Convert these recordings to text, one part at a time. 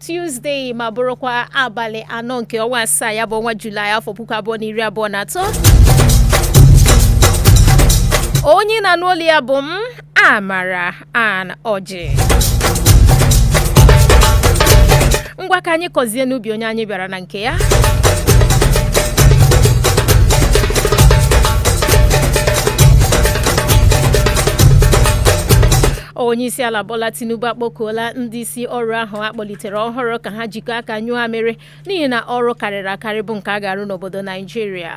Tuesday ma bụrụkwa abalị anọ nke ọnwa asaa ya bụ ọnwa Julaị afọ puku abụọ na iri abụọ na atọ onye na-anụ olu ya bụ m Amara Ann Ọjị ngwa ka anyị kọzie n'ubi onye anyị bịara na nke ya onyeisiala Bola Tinubu akpọkuola ndị isi ọrụ ahụ a kpọlitere ọhụrụ ka ha jikọọ aka nyụọ amịrị n'ihi na ọrụ karịrị akarị bụ nke a ga-arụ n'obodo Naijiria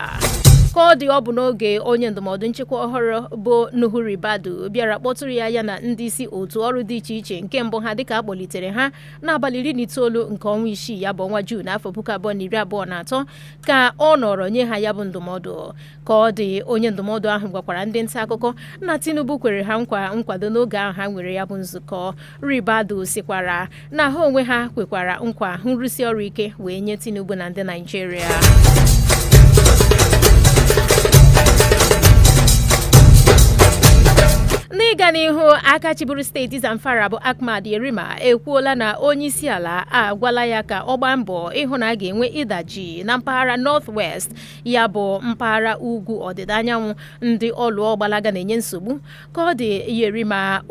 ka ọ dị ọ bụ n'oge onye ndụmọdụ nchekwa ọhụrụ bụ Nuhu Ribadu bịara kpọtụrụ ya ya na ndị isi otu ọrụ dị iche iche nke mbụ ha dịka a kpọlitere ha n'abalị iri na itoolu nke ọnwa isii ya bụ ọnwa Juun afọ puku abụọ na iri abụọ na atọ ka ọ nọrọ nye ha ya bụ ndụmọdụ ka ọ dị onye ndụmọdụ ahụ gwakwara ndị nta akụkọ na Tinubu kwere ha nkwa nkwado n'oge ahụ ha nwere ya bụ nzukọ Ribadu sikwara na ha onwe ha kwekwara nkwa nrụsi ọrụ ike wee nye Tinubu na ndị Naijiria n'ịga n'ihu aka chịburu steeti Zamfara bụ Ahmad Yerima ekwuola na onye isi ala agwala ya ka ọ gbaa mbọ ịhụ na a ga-enwe ịdajụ na mpaghara North West ya bụ mpaghara ugwu ọdịda anyanwụ ndị ọlụọ gbalaga na-enye nsogbu ka ọ dị Yerima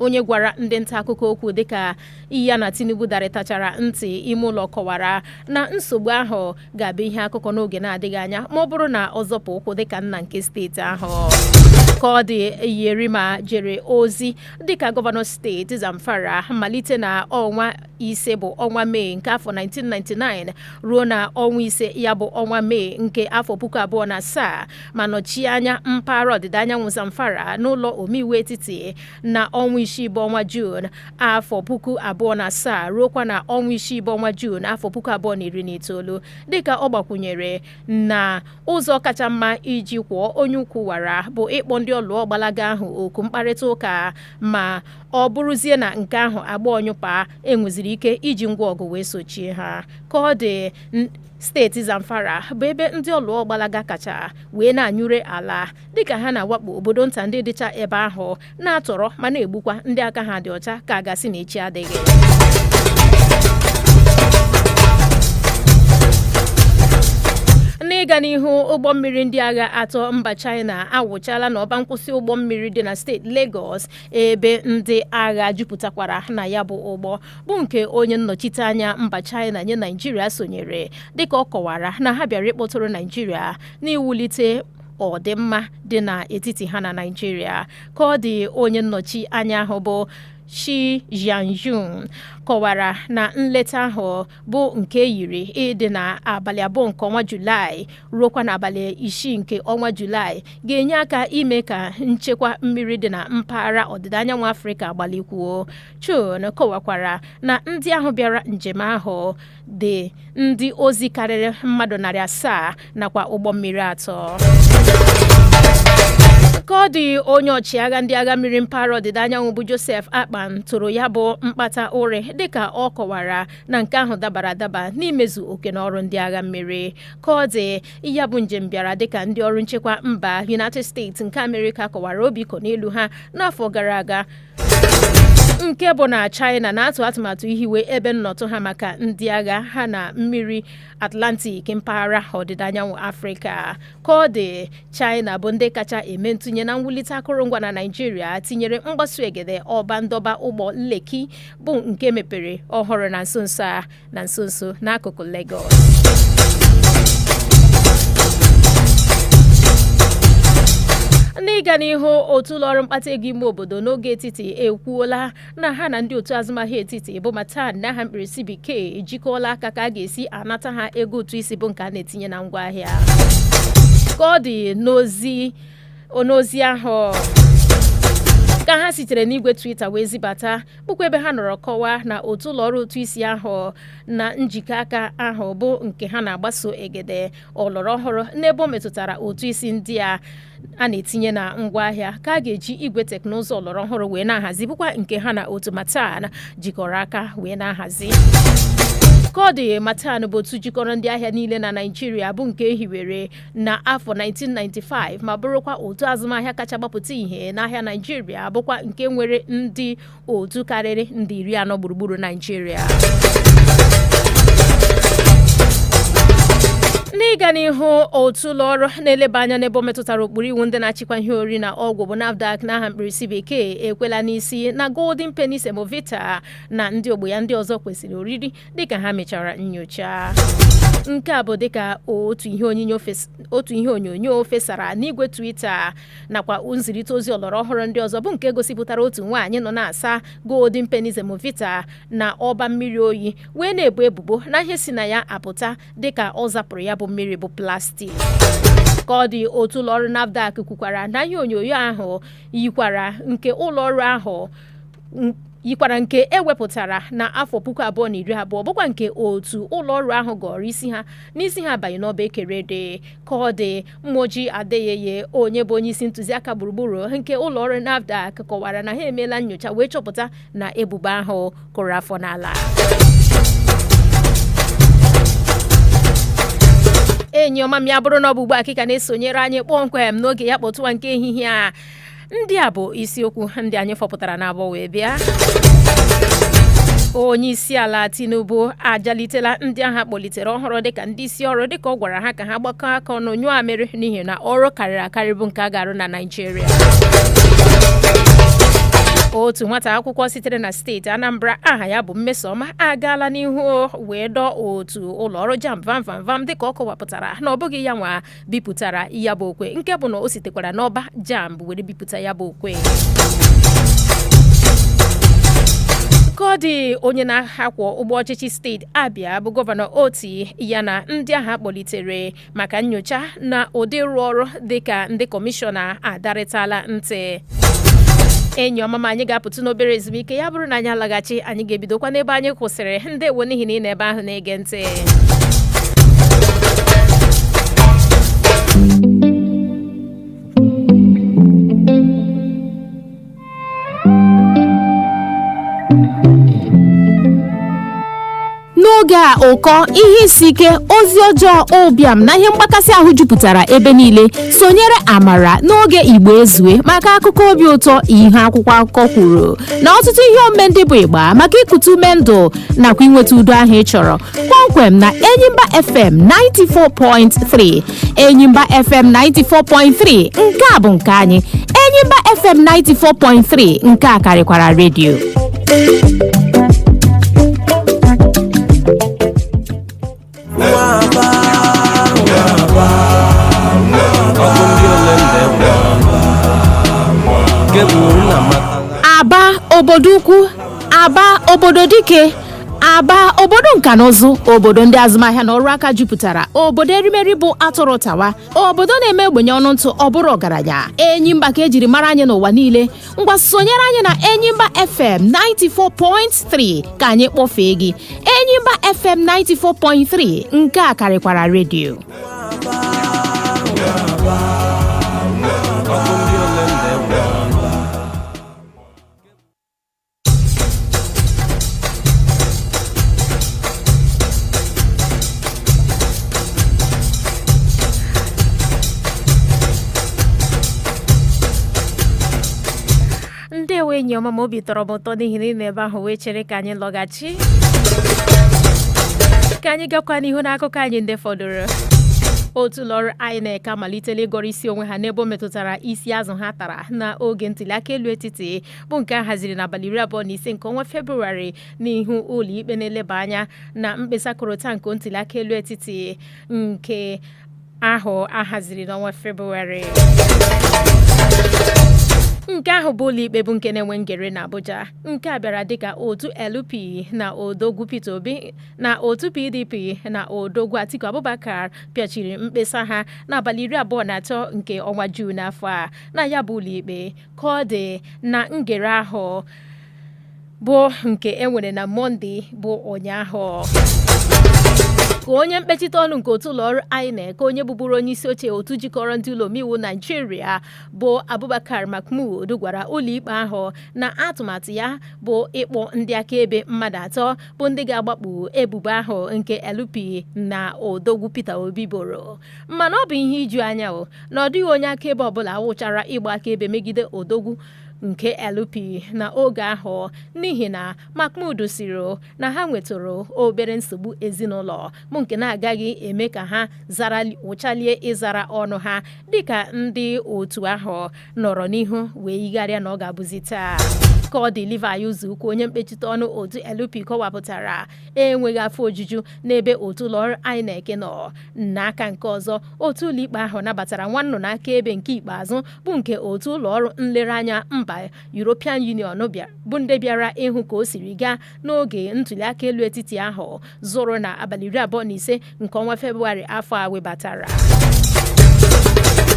onye gwara ndị nta akụkọ okwu dịka ya na Tinubu darịtachara ntị ime ụlọ kọwara na nsogbu ahụ ga-abụ ihe akụkọ n'oge na-adịghị anya ma ọ bụrụ na ọ zọpụ ụkwụ dịka nna nke steeti ahụ ka ọ dị Yerima jere ozi dịka gọvanọ steeti Zamfara malite na ọnwa ise bụ ọnwa Mee nke afọ 1999 ruo na ọnwa ise ya bụ ọnwa Mee nke afọ puku abụọ na asaa ma nọchie anya mpaghara ọdịda anyanwụ Zamfara n'ụlọ omeiwu etiti na ọnwa isii bụ ọnwa Juun afọ puku abụọ na asaa ruokwa na ọnwa isii bụ ọnwa Juun afọ puku abụọ na iri na itoolu dịka ọ gbakwunyere na ụzọ kacha mma iji kwọọ onye ukwu wara bụ ịkpọ ndị ọlụọ gbalaga ahụ oku mkparịta ụka ma ọ bụrụzie na nke ahụ agbaa ọnyụpa e nweziri ike iji ngwa ọgụ wee sochie ha ka ọ dị steeti Zamfara bụ ebe ndị ọlụọ gbalaga kacha wee na-anyụre ala dịka ha na-awakpo obodo nta ndị dịcha ebe ahụ na-atọrọ ma na-egbukwa ndị aka ha dị ọcha ka a ga-asị na echi adịghị n'ịga n'ihu ụgbọ mmiri ndị agha atọ mba China awụchala n'ọba nkwụsị ụgbọ mmiri dị na steeti Lagos ebe ndị agha jupụtakwara na ya bụ ụgbọ bụ nke onye nnọchiteanya mba China nye Naijiria sonyere dịka ọ kọwara na ha bịara ịkpọtụrụ Naijiria n'iwulite ọdịmma dị n'etiti ha na Naijiria ka ọ dị onye nnọchi anya ahụ bụ Cui Jianchun kọwara na nleta ahụ bụ nke e yiri ịdị na abalị abụọ nke ọnwa Julaị ruokwa n'abalị isii nke ọnwa julaị ga-enye aka ime ka nchekwa mmiri dị na mpaghara ọdịda anyanwụ afrịka gbalikwuo chun kọwakwara na ndị ahụ bịara njem ahụ dị ndị ozi karịrị mmadụ narị asaa nakwa ụgbọ mmiri atọ ka ọ dị onye ọchịagha ndị agha mmiri mpaghara ọdịda anyanwụ bụ Joseph Akpan toro ya bụ mkpata ụrị dịka ọ kọwara na nke ahụ dabara adaba n'imezu oke na ọrụ ndị agha mmiri ka ọ dị ya bụ njem bịara dịka ndị ọrụ nchekwa mba United States nke Amerịka kọwara obi ịkọ n'elu ha n'afọ gara aga nke bụ na China na-atụ atụmatụ ihiwe ebe nnọtụ ha maka ndị agha ha na mmiri Atlantic mpaghara ọdịda anyanwụ Afrịka ka ọ dị China bụ ndị kacha eme ntụnye na mwulite akụrụngwa na Naịjirịa tinyere mgbaso egede ọba ndọba ụgbọ Lekki bụ nke e mepere ọhụrụ na nso nso a na nso nso n'akụkụ Lagos n'ịga n'ihu otu ụlọọrụ mkpata ego ime obodo n'ogo etiti ekwuola na ha na ndị otu azụmahịa etiti bụ MATAN n'aha mkpirisi bekee ejikọọla aka ka a ga-esi anata ha ego ụtụ isi bụ nke a na-etinye na ngwaahịa ka ọ dị n'ozi ahụ ka ha sitere n'igwe Twitter wee zibata bụkwa ebe ha nọrọ kọwaa na otu ụlọ ọrụ ụtụ isi ahụ na njikọ aka ahụ bụ nke ha na-agbaso egede ọlọrọ ọhụrụ n'ebe o metụtara ụtụ isi ndị a a na-etinye na ngwaahịa ka a ga-eji igwe teknụzụ ọlọrọ ọhụrụ wee na-ahazi bụkwa nke ha na otu MATAN jikọrọ aka wee na-ahazi ka ọ dị MATAN bụ otu jikọrọ ndị ahịa niile na Naịjirịa bụ nke e hiwere na afọ 1995 ma bụrụkwa otu azụmahịa kacha gbapụta ihe n'ahịa Naịjirịa bụkwa nke nwere ndị otu karịrị nde iri anọ gburugburu Naịjirịa n'ịga n'ihu otu ụlọ ọrụ na-eleba anya n'ebe o metụtara ụkpụrụ iwu ndị na-achịkwa ihe oriri na ọgwụ bụ NAFDAC n'aha mkpirisi bekee ekwela n'isi na Golden Penny Semovita na ndị ogbo ya ndị ọzọ kwesịrị oriri dịka ha mechara nyocha nke a bụ dịka otu ihe onyonyo fesara n'igwe Twitter nakwa nzirịta ozi ọlọrọ ọhụrụ ndị ọzọ bụ nke gosipụtara otu nwaanyị nọ na-asa Golden Penny Semovita na ọba mmiri oyi wee na-ebu ebubo na ihe si na ya apụta dịka ọ zapụrụ ya bụ mmiri bụ plastik ka ọ dị otu ụlọọrụ NAFDAC kwukwara na ihe onyonyo ahụ yikwara nke ụlọọrụ ahụ yikwara nke e wepụtara na afọ puku abụọ na iri abụọ bụkwa nke otu ụlọ ọrụ ahụ gọrọ isi ha n'isi ha abaghị n'ọba e kere ede ka ọ dị moji adeyeye onye bụ onye isi ntụziaka gburugburu nke ụlọ ọrụ nafdac kọwara na ha emeela nyocha wee chọpụta na ebubo ahụ kụrụ afọ n'ala enyi ọma m ya bụrụ na ọ bụ ugbu a ka ị ka na-esonyere anyị kpọmkwem n'oge ya kpọtụwa nke ehihie a ndị a bụ isiokwu ndị anyị fọpụtara n'abọ wee bịa onye isi ala tinubu ajalitela ndị aha kpọlitere ọhụrụ dịka ndị isi ọrụ dịka ọ gwara ha ka ha gbakọ aka ọnụ nyụọ amịrị n'ihi na ọrụ karịrị akarị bụ nke a ga-arụ na naijiria otu nwata akwụkwọ sitere na steeti anambra aha ya bụ mmesoma agaala n'ihu wee dọọ otu ụlọọrụ jamb vam vam vam dịka ọ kọwapụtara na ọ bụghị ya nwa bipụtara ya bụ okwe nke bụ na o sitekwara n'ọba jamb were bipụta ya bụ okwe ka ọ dị onye na-akwọ ụgbọ ọchịchị steeti abịa bụ gọvanọ otti ya na ndị aha kpọlitere maka nyocha na ụdị ịrụ ọrụ dịka ndị kọmishọna adarịtala ntị enyi ọma m anyị ga-apụtụ n'obere ezumike ya bụrụ na anyị alaghachi anyị ga-ebidokwa n'ebe anyị kwụsịrị ndewo n'ihi na ị nọ ebe ahụ na na-ege ntị n'oge a ụkọ ihe isi ike ozi ọjọọ ụbịam na ihe mgbakasị ahụ jupụtara ebe niile sonyere amara n'oge igbo ezue maka akụkọ obi ụtọ ihe akwụkwọ akụkọ kwuru na ọtụtụ ihe omume ndị bụ ịgba maka ikutu ume ndụ nakwa inweta udo ahụ ị chọrọ kpọmkwem na enyimba fm 94.3 enyimba fm 94.3 nke a bụ nke anyị enyimba fm 94.3 nke a karịkwara redio aba obodo ukwu aba obodo dike aba obodo nka na ụzụ obodo ndị azụmahịa na ọrụ aka jupụtara obodo erimeri bụ atụrụ tawa obodo na-eme ogbenye ọnụ ntụ ọ bụrụ ọgaranya enyimba ka ejiri mara anyị n'ụwa niile ngwa sonyere anyị na enyimba fm 94.3 ka anyị kpọfee gị enyimba fm 94.3 nke a karịkwara redio ndewo enyi ọma m obi tọrọ m ụtọ n'ihi na ị nọ ebe ahụ wee chere ka anyị lọghachi ka anyị gakwa n'ihu n'akụkọ anyị ndị fọdụrụ otu ụlọọrụ INEC amalitela ịgọrọ isi onwe ha n'ebe o metụtara isi azụ ha tara n'oge ntụliaka elu etiti bụ nke a haziri n'abalị iri abụọ na ise nke ọnwa Febụwarị n'ihu ụlọikpe na-eleba anya na mkpesa korota nke ntuliaka elu etiti nke ahụ a haziri n'ọnwa Febụwarị. nke ahụ bụ ụlọikpe bụ nke na-enwe ngere na Abuja nke a bịara dịka otu LP na odogwu Peter Obi na otu PDP na odogwu Atiku Abubakar pịachiri mkpesa ha n'abalị iri abụọ na atọ nke ọnwa Juun afọ a na ya bụ ụlọikpe ka ọ dị na ngere ahụ bụ nke e nwere na mọnde bụ ụnyaahụ ka onye mkpechite ọnụ nke otu ụlọọrụ INEC onye bụburu onye isi oche otu jikọrọ ndị ụlọ omeiwu naijiria bụ abubakar mahmoud gwara ụlọikpe ahụ na atụmatụ ya bụ ịkpọ ndị akaebe mmadụ atọ bụ ndị ga-agbakpu ebubo ahụ nke LP na odogwu peter obi boro mana ọ bụ ihe iju anya o na ọ dịghị onye akaebe ọbụla awụchara ịgba akaebe megide odogwu nke LP na oge ahụ n'ihi na Mahmoud sịrị na ha nwetụrụ obere nsogbu ezinụlọ bụ nke na-agaghị eme ka ha wụchalie ịzara ọnụ ha dịka ndị otu ahụ nọrọ n'ihu wee yigharịa na ọ ga-abụzi taa ka ọ dị Livy Uzoukwu onye mkpechite ọnụ otu LP kọwapụtara enweghị afọ ojuju n'ebe otu ụlọọrụ INEC nọ N'aka nke ọzọ, otu ụlọikpe ahụ nabatara nwa nnụnụ akaebe nke ikpeazụ bụ nke otu ụlọ ọrụ nlereanya mba European Union bụ ndị bịara ịhụ ka o siri gaa n'oge ntuliaka elu etiti ahụ zụrụ na abalị iri abụọ na ise nke ọnwa Febụwarị afọ a webatara.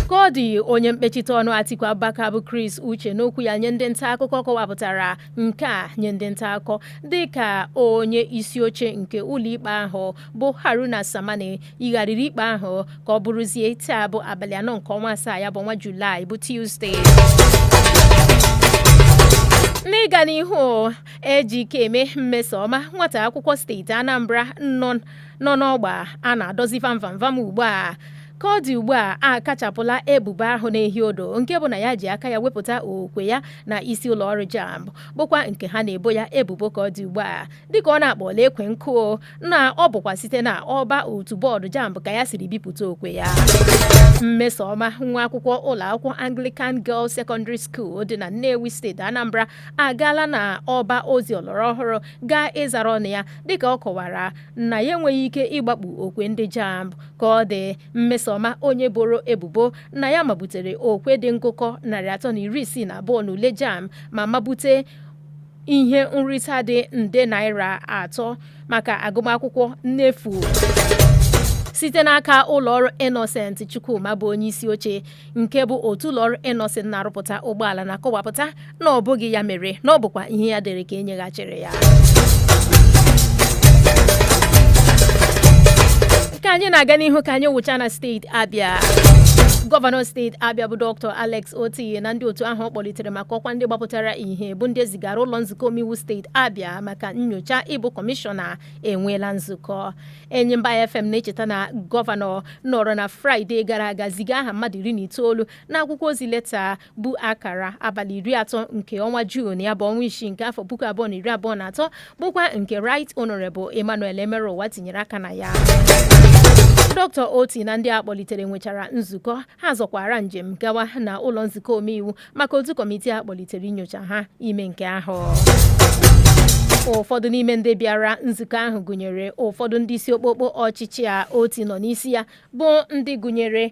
Ka ọ dị onye mkpechite ọnụ Atiku Abubakar bụ Chris Uche n'okwu ya nye ndị nta akụkọ kọwapụtara nke a nye ndị nta akụkọ dịka onye isi oche nke ụlọikpe ahụ bụ Haruna Samani yigharịrị ikpe ahụ ka ọ bụrụzie taa bụ abalị anọ nke ọnwa asaa ya bụ ọnwa Julaị bụ Tuzdee n'ịga n'ihu Ejikeme Mmesoma nwata akwụkwọ steeti Anambra nọ n'ọgba a na-adọzi vamvamvam ugbu a ka ọ dị ugbu a akachapụla ebubo ahụ na-ehi odo nke bụ na ya ji aka ya wepụta okwe ya na isi ụlọ ọrụ JAMB bụkwa nke ha na-ebo ya ebubo ka ọ dị ugbu a dịka ọ na-akpọla ekwe nkụ na ọ bụkwa site na ọba otu bọọdụ jamb ka ya siri bipụta okwe ya mmesoma nwa akwụkwọ ụlọ akwụkwọ anglican girls secondary school dị na nnewi steeti anambra agaala na ọba ozi ọlọrọ ọhụrụ gaa ịzara ọnụ ya dịka ọ kọwara na ya enweghị ike ịgbakpu okwe ndị jamb ka ọ dị mmesoma onye boro ebubo na ya mabutere okwe dị ngụkọ narị atọ na iri isii na abụọ n'ule jamb ma mabute ihe nrita dị nde naira atọ maka agụmakwụkwọ n'efu site n'aka ụlọọrụ Innocent Chukwuma bụ onye isi oche nke bụ otu ụlọọrụ Innocent na-arụpụta ụgbọala na-akọwapụta na ọ bụghị ya mere na ọ bụkwa ihe ya dere ka e nyeghachiri ya ka anyị na-aga n'ihu ka anyị wụcha na steeti Abia gọvanọ steeti Abia bụ Dr. Alex Otti na ndị otu ahụ ọ kpọlitere maka ọkwa ndị gbapụtara ihe bụ ndị e zigara ụlọ nzukọ omeiwu steeti abia maka nyocha ịbụ kọmishọna enweela nzukọ enyimba fm na-echeta na gọvanọ nọrọ na fraịde gara aga ziga aha mmadụ iri na itoolu na akwụkwọ ozi leta bu akara abalị iri atọ nke ọnwa juun ya bụ ọnwa isii nke afọ puku abụọ na iri abụọ na atọ bụkwa nke right honorable emmanuel emeruwa tinyere aka na ya dọkịta otti na ndị a kpọlitere nwechara nzukọ ha zọkwara njem gawa na ụlọ nzukọ omeiwu maka otu kọmitii a kpọlitere inyocha ha ime nke ahụ ụfọdụ n'ime ndị bịara nzukọ ahụ gụnyere ụfọdụ ndị isi okpokpo ọchịchị a otti nọ n'isi ya bụ ndị gụnyere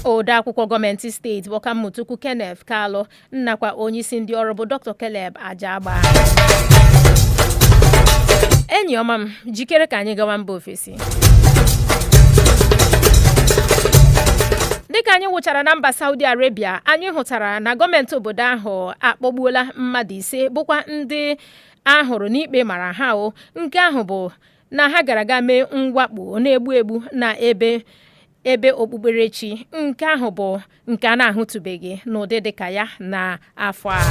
odeakwụkwọ gọọmenti steeti bụ ọkammụta ukwu kenneth kalụ nakwa onyeisi ndị ọrụ bụ Dr. Caleb Ajagba enyi ọma m jikere ka anyị gawa mba ofesi dịka anyị wụchara na mba Saudi Arabia anyị hụtara na gọọmenti obodo ahụ akpọgbuola mmadụ ise bụkwa ndị a hụrụ na ikpe mara ha o nke ahụ bụ na ha gara gaa mee mwakpo na-egbu egbu na ebe ebe okpukperechi nke ahụ bụ nke a na-ahụtụbeghị n'ụdị dịka ya n'afọ a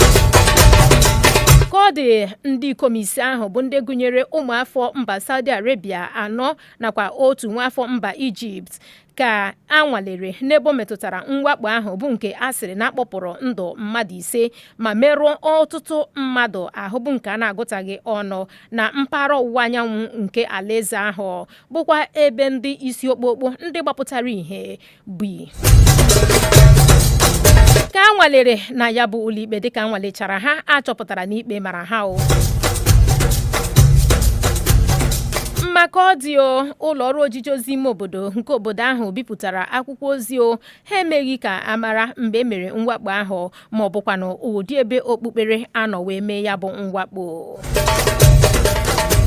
ka ọ dị ndị ikom ise ahụ bụ ndị gụnyere ụmụafọ mba Saudi Arabia anọ nakwa otu nwaafọ mba Ijipt ka a nwalere n'ebe o metụtara mwakpo ahụ bụ nke a sịrị na a kpọpụrụ ndụ mmadụ ise ma merụọ ọtụtụ mmadụ ahụ bụ nke a na-agụtaghị ọnụ na mpaghara ọwụwa anyanwụ nke alaeze ahụ bụkwa ebe ndị isi okpokpo ndị gbapụtara ihe bi ka a nwalere na ya bụ ụlọikpe dịka a nwalechara ha a chọpụtara na ikpe mara ha o ma ka ọ dị o ụlọ ọrụ ojiji ozi ime obodo nke obodo ahụ bipụtara akwụkwọ ozi o ha emeghị ka a mara mgbe e mere mwakpo ahụ ma ọ bụkwanụ ụdị ebe okpukpere a nọ wee mee ya bụ mwakpo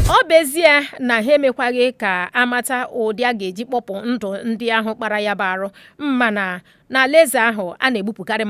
ọ bụ ezie na ha emekwaghị ka a mata ụdị a ga-eji kpọpụ ndụ ndị ahụ kpara ya bụ arụ mana n'alaeze ahụ a na-egbupụkarị